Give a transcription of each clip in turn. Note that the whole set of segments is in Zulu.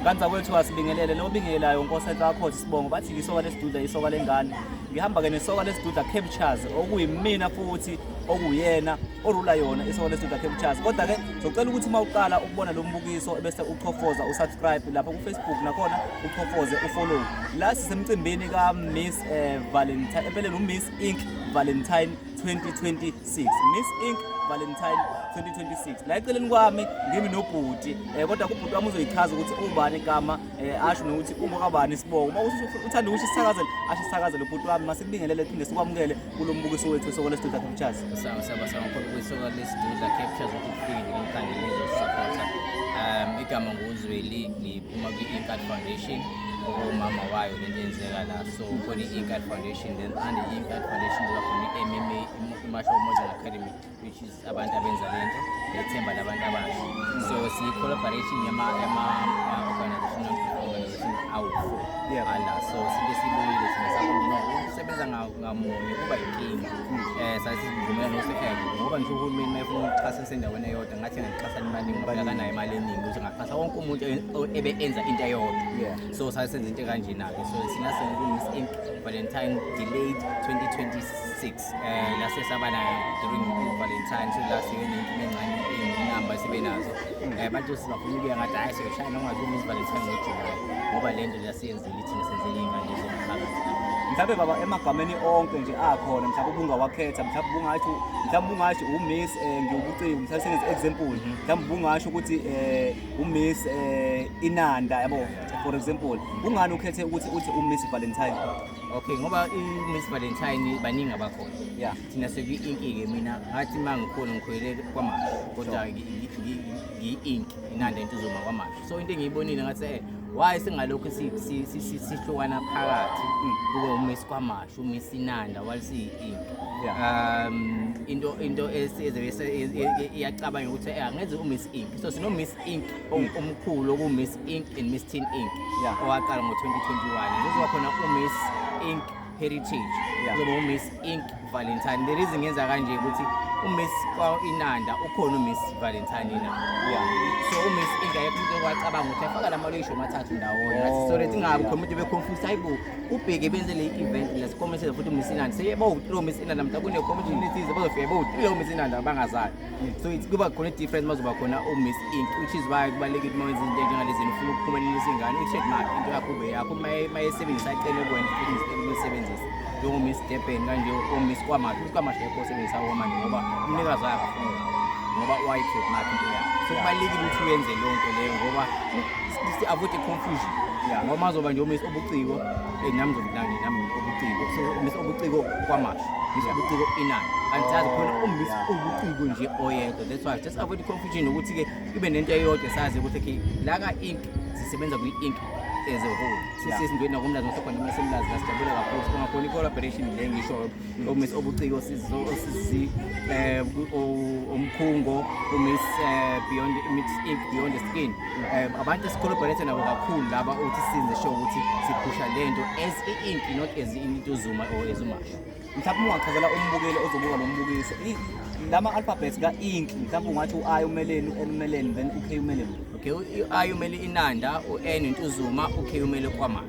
kanti zakwethu asibingelele lo bingelayo nkosi enhle akhoze sibongo bathi isoka lesiduda isoka lengane ngihamba ke nesoka lesiduda captures okuyimina futhi okuyena orula yona isoka lesiduda captures kodwa ke ngizocela ukuthi uma uqala ukubona lo mbukiso ebese uchofoza usubscribe lapha kufacebook nakhona uchofoze ufollow la sisemcimbini ka miss eh, valentine empeleni umiss ink valentine 2020 6 Miss Ink Valentine 2026 la eceleni kwami ngimi nobhuti eh, kodwa kubhuti wami uzoyichaza ukuthi ubani igama eh, asho nokuthi uma kabani isibongo uma uthanda ukuthi sisakazele asho sisakazele ubhuti wami masibingelele phinde sikwamukele kulo mbukiso wethu isoko lesidudla captures sawa sawa sawa mkhulu kwisoko lesidudla captures ukuthi kufike ngomkhandlu ngizosupporta um igama nguzweli ngiphuma kwi-inkad foundation okumama wayo lento yenzeka la so khona i-inkad foundation And in that foundation kuba khona i-MMA Martial Arts Academy which is abantu abenza lento lethemba labantu abasha. So siyi collaboration yama yama uh, organization organization awu-four Yeah. ala so sike sibuyile thina sakuno ukusebenza nga- ngamunye kuba yinkinga. Eh sasivumela nosekhele ngoba ngisho uhulumeni mayefuna ukuxhasa sendaweni eyodwa ngathi ngixhasa imali ngoba akanayo imali eningi ukuthi ngaxhasa wonke umuntu e- ebe enza into eyodwa. Yeah. so saye senza into kanjena-ke so thina sengikumiss inc valentine delayed 2026 um eh, lase saba nayo during valentine so last year nenkinga encane iy'namba sibe nazo um eh, abantu sibafuna ukuya ngathi hhayi siyoshaya noma ngazimiss valentine ngojulayi ngoba le nto lasiyenzela ithina senzela iy'ngane zomphakathi mhlawumbe baba emagameni onke nje akhona mhlawumbe ubungawakhetha mhlawumbe ubungasho mhlawumbe ubungasho umiss um eh, ngiwubuciko mhlawumbe sengenza example mhlawumbe ubungasho ukuthi um umiss eh inanda yabo for example kungani ukhethe ukuthi uthi umiss valentine okay ngoba i-miss valentine baningi abakhona yeah thina sekuyi-inki-ke mina ngathi uma ngikhona ngikhwele kwamasho kodwa ngiyi-inki inanda into uzoma kwamasho so into engiyibonile ngathi eh why singalokhu si- si- si- si- sihlukana phakathi kube umiss kwamasho shumi isinanda while siyi-ink Yeah. um into into iyacabanga ukuthi eh, angeze umiss ink so sino-miss ink o- omkhulu oku-miss ink and miss tin ink Yeah. owaqala ngo-2021 kuzoba khona u-miss ink heritage Yeah. kuzoba u-miss ink valentine the reason ngenza kanje ukuthi u-miss kwainanda ukhona u-miss valentine inanda Yeah. so u-miss ink ayekho umuntu okwacabanga ukuthi afaka la maloyisho amathathu ndawonye Oh, ngathi sore tingabo yeah. khona umuntu beconfuse hayibo ubheke benze le event la sikomishile futhi Miss Inanda seye bo through Miss Inanda mhla kune commission ethize bazofika bo through Miss Inanda abangazayo so it's kuba khona difference mazoba khona u Miss Ink which is why kubalekile uma wenza into njengalezi ufuna ukuphumelela isingane u check mark into yakho be yakho mayesebenzisa icele kuwena futhi usebenzise njengo Miss Durban kanje u Miss Kwamahle u Kwamahle yakho usebenzisa kwamanje ngoba umnikazi wakhe ngoba wayi check mark into yakho so kubalekile ukuthi uyenze lonke leyo ngoba si avoid confusion yeah ngoba mazoba nje umisa obuciko eh nami ngizokudlani nami obuciko so umisa obuciko kwamasho umisa obuciko inani angisazi khona umisa obuciko nje oyedwa that's why just avoid confusion ukuthi ke ibe nento eyodwa sazi ukuthi ke la ka ink sisebenza kwi ink as a whole sisizindweni nakumlazi ngosekhona uma semlazi la sijabule kakhulu singakhona i-collaboration le ngisho uMiss Obuciko osisi eh omkhungo uMiss eh, Beyond Mix Ink Beyond Skin eh, abantu esikhulubhalete nabo kakhulu laba uthi sinze show ukuthi siphusha lento as i-ink not as into zuma or as umasha mhlawumbe ungachazela umbukeli ozobuka lo mbukiso lama alphabets ka ink mhlawumbe ungathi u-i umeleni u-n umeleni then u-k umeleni okay u-i umele inanda u-n intuzuma u-k umele kwamanje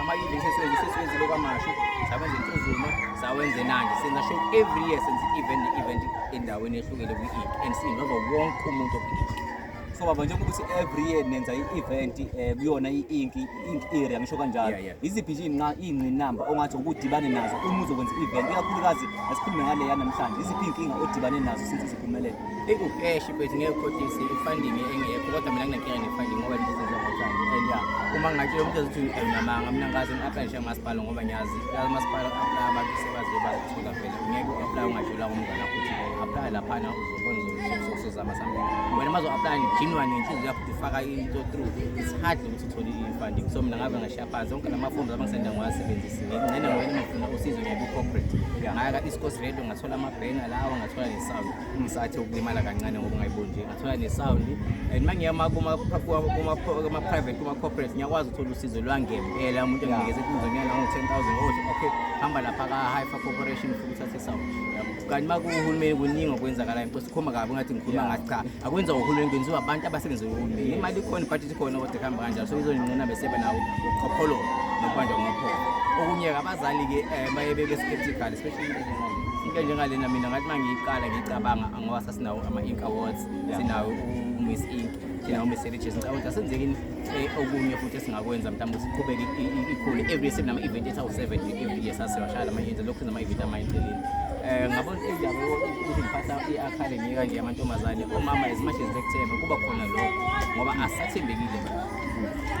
ama-event esenze sesiwenzile okwamashu sawenza intuzuma sawenze nanje senza show every year senza i-event ne-event endaweni ehlukile kwi-ink and sinova wonke umuntu okwi-ink so baba njengoba ukuthi every year nenza i-event um kuyona i-ink i-ink area ngisho kanjalo yiziphi nje iy'ngqinamba ongathi ukudibane nazo uma uzokwenza i-event ikakhulukazi asikhulume ngaleya namhlanje yiziphi iy'nkinga odibane nazo since ziphumelele Ikukeshi mfethu ngeke ukhohlise i-funding engekho kodwa mina nginenkinga ne-funding ngoba izinto zingotshani and ya uma ngatshela umuntu ezothi nginamanga mina ngazi ngi-aplayishe umasipala ngoba ngiyazi umasipala aplaya abantu sebaze bazithola vele ngeke u-aplaya ungatshelwa ngomngane wakho ukuthi aplaya laphana uzobona uzozama something wena uma zo-aplaya nijinwa nenhliziyo yakho ukuthi faka into through it's hard ukuthi uthole i-funding so mina ngabe ngashiya phansi onke lamafomu abangisenda ngiwasebenzisi ngingcene ngoba ngifuna usizo ngeke u-corporate ngayaka i-scos radio ngathola amabhenga lawa ngathola ngisathi ukulimala kancane ngoba ungayiboni nje ngathola ne-sound and uma ngiyama kuma-private kuma-corporate ngiyakwazi ukuthola usizo lwangempela umuntu enginikeze kunzonyana nango-ten thousand othi okay hamba lapha ka-hypha corporation ufuna uthathe i-sound kanti uma kuwuhulumeni kuningi okwenzakalayo mpo sikhuluma kabi ngathi ngikhuluma ngathi cha akwenza uhulumeni kwenziwa abantu abasebenza uhulumeni imali ikhona but sikhona kodwa kuhamba kanjalo so izonqina besebe nawo ukhopholo nokubanjwa ngokhopo okunye-ke abazali-ke um eh, baye bebe-skeptical especially into njengalena mina ngathi uma ngiyiqala ngiyicabanga ngoba sasinawo ama-ink awards sinawo umiss ink sinawo umiss heritage ngicabanga ukuthi asenzekini eh, okunye futhi esingakwenza mhlawumbe siqhubeke ikhule every year sinama-event ethi awu-seven every year sasewashaya lama-event lokhu sinama-event amayicelile um eh, ngabona indaba ukuthi ngiphatha i-a khale ngiyeka nje amantombazane omama as much as bekuthemba kuba khona lokho ngoba asathembekile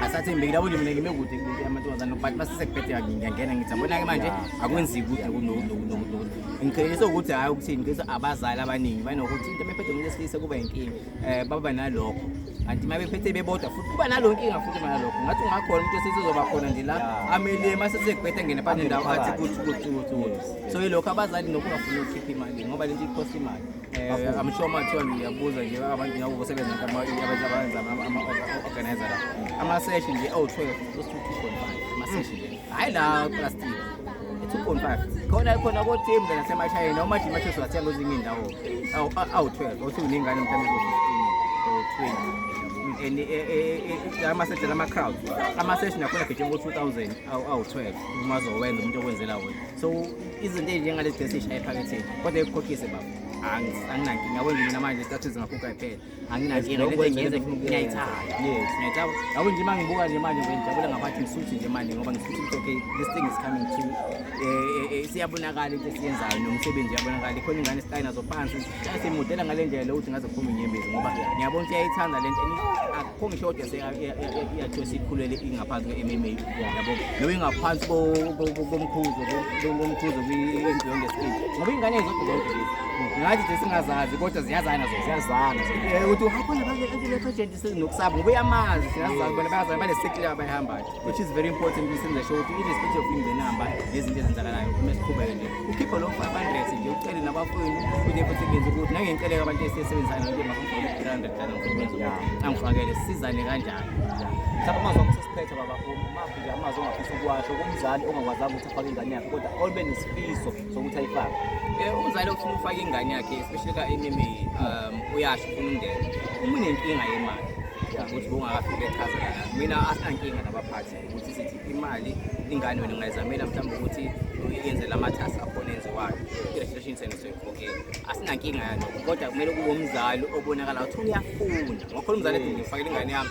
asathembekile abo nje mina ngime kude kulento yamantombazane but basesekubhedeka ngiyangena ngithi abona-ke manje akwenzeki kude ngiqiniso ukuthi hhayi ukuthi ngiqiniso abazali abaningi banokuthi into mephethe umuntu esilisa kuba yinkinga um baba nalokho kanti uma bephethe bebodwa futhi kuba nalo nkinga futhi uma nalokho ngathi ungakhona umuntu esizozoba khona nje la amele uma sesekubhetha ngena phansi ndawo athi kuthi kuthi kuthi so yilokho abazali lokhu bafuna ukukhipha imali ngoba lento ikhosta imali um i'm sure mathiwa ngiyabuza nje abantu ngabo kusebenza abenza ama-organizer la ama-session nje awu-twelve osi-two point five ama-session nje hhayi la plastic two point five khona khona kotim ke nasemashayeni awumathi imathi siwathenga kwezinye iy'ndawo awu-twelve othi uney'ngane mhlawumbe ezo-fifteen or twenty and ama-session ama-crowd ama-session akhona gijima ngo-two thousand awu-twelve uma zowenza umuntu okwenzela wona so izinto ezinjengale decision ephaketheni kodwa ikukhokhise baba anginankinga kwenza mina manje isikhathi zingakhupha kuphela anginankinga lento engiyenza ngiyayithanda yes ngiyayithaba yabo nje uma ngibuka nje manje ngijabule ngabathi ngisuthi nje manje ngoba ngisuthi ukuthi okay this thing is coming to siyabonakala into esiyenzayo nomsebenzi uyabonakala ikhona ingane esitayina zophansi simudela ngale ndlela lokuthi ngaze kuphume inyembezi ngoba ngiyabona ukuthi uyayithanda le nto akukho ngisho kodwa seyathiwa sikhulele ingaphansi kwe-mma yabo noma ingaphansi komkhuzo komkhuzo kwi-beyond estate ngoba iy'ngane zodwa zonke ngathi nje singazazi kodwa ziyazana zona ziyazana eh, ukuthi uhakhona baeagent nokusaba ngoba uyamazi siyazazi bona bayazana banesekile abayihambayo which is very important ukuthi senze sho ukuthi irespect of ingenamba nezinto ezenzakalayo uma siqhubeke nje ukhiphe lo five hundred nje ucele nabafowenu ukuthi futhi ngenza ukuthi nangenceleka abantu esisebenzisana nokuthi makufuna three hundred dala ngifuna angifakele sisizane kanjani mhlawumbe umazwa Phethe baba umaphi nje amazwi ongafisa ukuwasho kumzali ongakwazanga ukuthi afake ingane yakhe kodwa olube nesifiso sokuthi ayifake. Eh, umzali ofuna ukufaka ingane yakhe especially ka MMA um uyasho ufuna umndeni. Uma unenkinga yemali ukuthi bungakafike echaza lana. Mina asinankinga nabaphathi ukuthi sithi imali ingane wena ungayizamela mhlawumbe ukuthi yenze lamathasi akhona enziwayo. I-registration senu soyikhokhela. Asinankinga yalokho kodwa kumele kube umzali obonakala ukuthi uyafunda. Ngokhona umzali ethi ngifakele ingane yami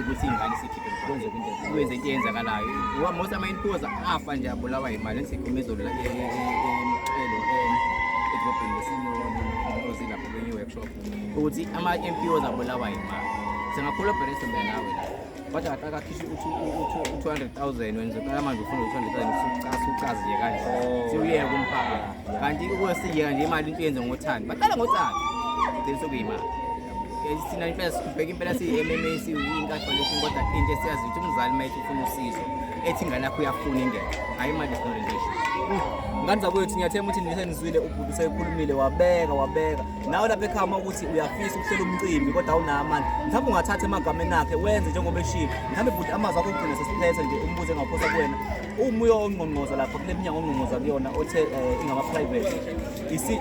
ukuthi ingane sikhiphe kwenze into eyenzakalayo most ama-inpoza afa nje abulawa yimali ngisekhuluma izolo emxhelo edrobheni lesinozi lapho kwenye workshop ukuthi ama-mpoz abulawa yimali singakholwa bherese mbe nawe la kodwa ngathi akakhishwe u-two hundred thousand wena zoqala manje ufuna u-two hundred thousand usucaziye kanje oh. siwuyeke umphakathi kanti ukwesiyeka nje imali into yenze ngothando baqala ngothando qiniso kuyimali Eh, thina impela sikubheka impela siyi-mma siyi-incarnation kodwa into esiyazi ukuthi umzali uma ethi ufuna usizo ethi ingane yakho uyafuna ingene hhayi imali isinorentation ngane zakwethu ngiyathemba ukuthi nisenizwile ubhuti usekhulumile wabeka wabeka nawe lapha ekhaya uma ukuthi uyafisa ukuhlela umcimbi kodwa awunayo amandla mhlawumbe ungathatha emagameni akhe wenze njengoba eshilo mhlawumbe bhuti amazwi akho ugcine sesiphethe nje umbuze engaphosa kuwena umuyo ongqongqoza lapha kule minyango ongqongqoza kuyona othe um ingama-private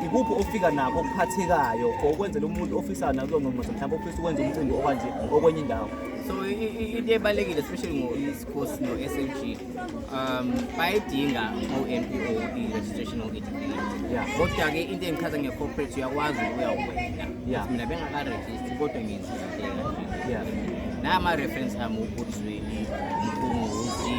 ikuphi ofika nakho okuphathekayo for ukwenzela umuntu ofisayo nakulo ngqongqoza mhlawumbe ofisa ukwenza umcimbi okwanje okwenye indawo so into ebalulekile especially ngo-esports no-slg um bayidinga o-mpo i-registration okidikiya kodwa-ke into engichaza nge-corporate uyakwazi ukuyawuwena mina bengakarejisti kodwa ngenza indlela nama-reference ami ubuzweni mkhunguzi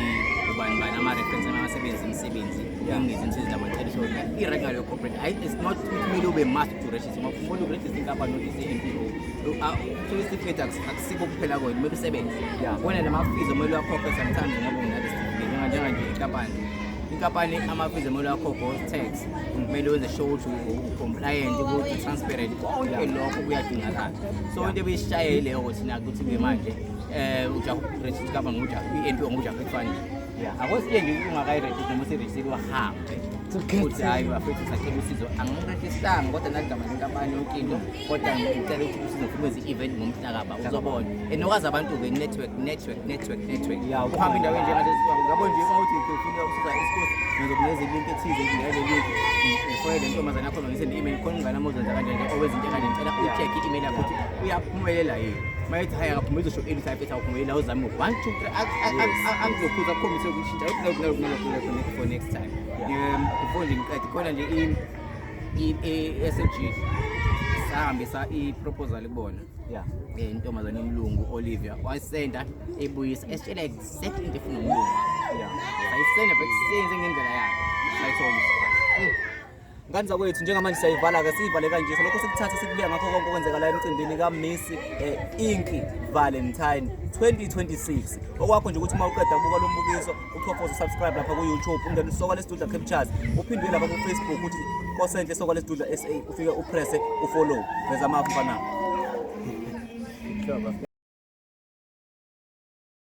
ubani bani ama-reference ami abasebenzi imisebenzi ngezinsizi namacela so i-right ngaleyo corporate hayi it's not kumele ube must to register ngoba umuntu uregister inkampani nokuthi i-npo so isitifiketi akusikho kuphela kwena kumele usebenze wena namafees omele uwakhokhe sometimes ngoba unale sitifiketi njenganje inkampani inkampani amafizi emele wakhokho tax kumele wenze sure ukuthi ucompliant ukuthi transparent konke lokho kuyadingakala so into ebeyisishaye yileyo ukuthi nakuthi-ke manje um ujahu register company ngokujahu i-npo ngokujahu efunding akwesiye nje ukuthi ungakayirejisi noma usirejisile wahambe ukuthi hhayi bafethu sacela usizo angikurejistanga kodwa naligama lenkampani yonke into kodwa ngicela ukuthi usizo fumeze i-event ngomhlakaba uzobona and okwazi abantu-ke network network network network uhamba indaweni njengabo nje uma uthi ufuna usiza isikhosi ngizokunikeza ilinki ethize ngingele linki ngifonele intombazane yakho nongise ne-email khona ungane amozenza kanje nje owezinto ekanje ngicela ucheck i-email yakho ukuthi uyaphumelela yini uma ethi hhayi akaphumeleli uzosho eli type ethi awuphumelela uzame one two angizokhuza akukhombise ukushintsha for next time ngifone nje ngiqede khona nje i-SLG sahambisa i-proposal kubona eh, intombazane yomlungu olivia wayisenda ibuyisa esitshela exactly into efuna umlungu sayisenda bekusenzenge ngendlela yakhe sayithomisa Ngane zakwethu njengamanje siyayivala-ke siyivale kanje so lokho sikuthathe sikubeka ngakho konke okwenzeka la emcimbini kaMiss eh, Inky Valentine 2026 okwakho nje ukuthi uma uqeda kubuka lo mbukiso uchofoze usubscribe lapha ku-youtube ungene usoka lesidudla captures uphindwe lapha kufacebook uthi kosenhle soka lesidudla sa ufike upresse ufollow veza amafu mfanami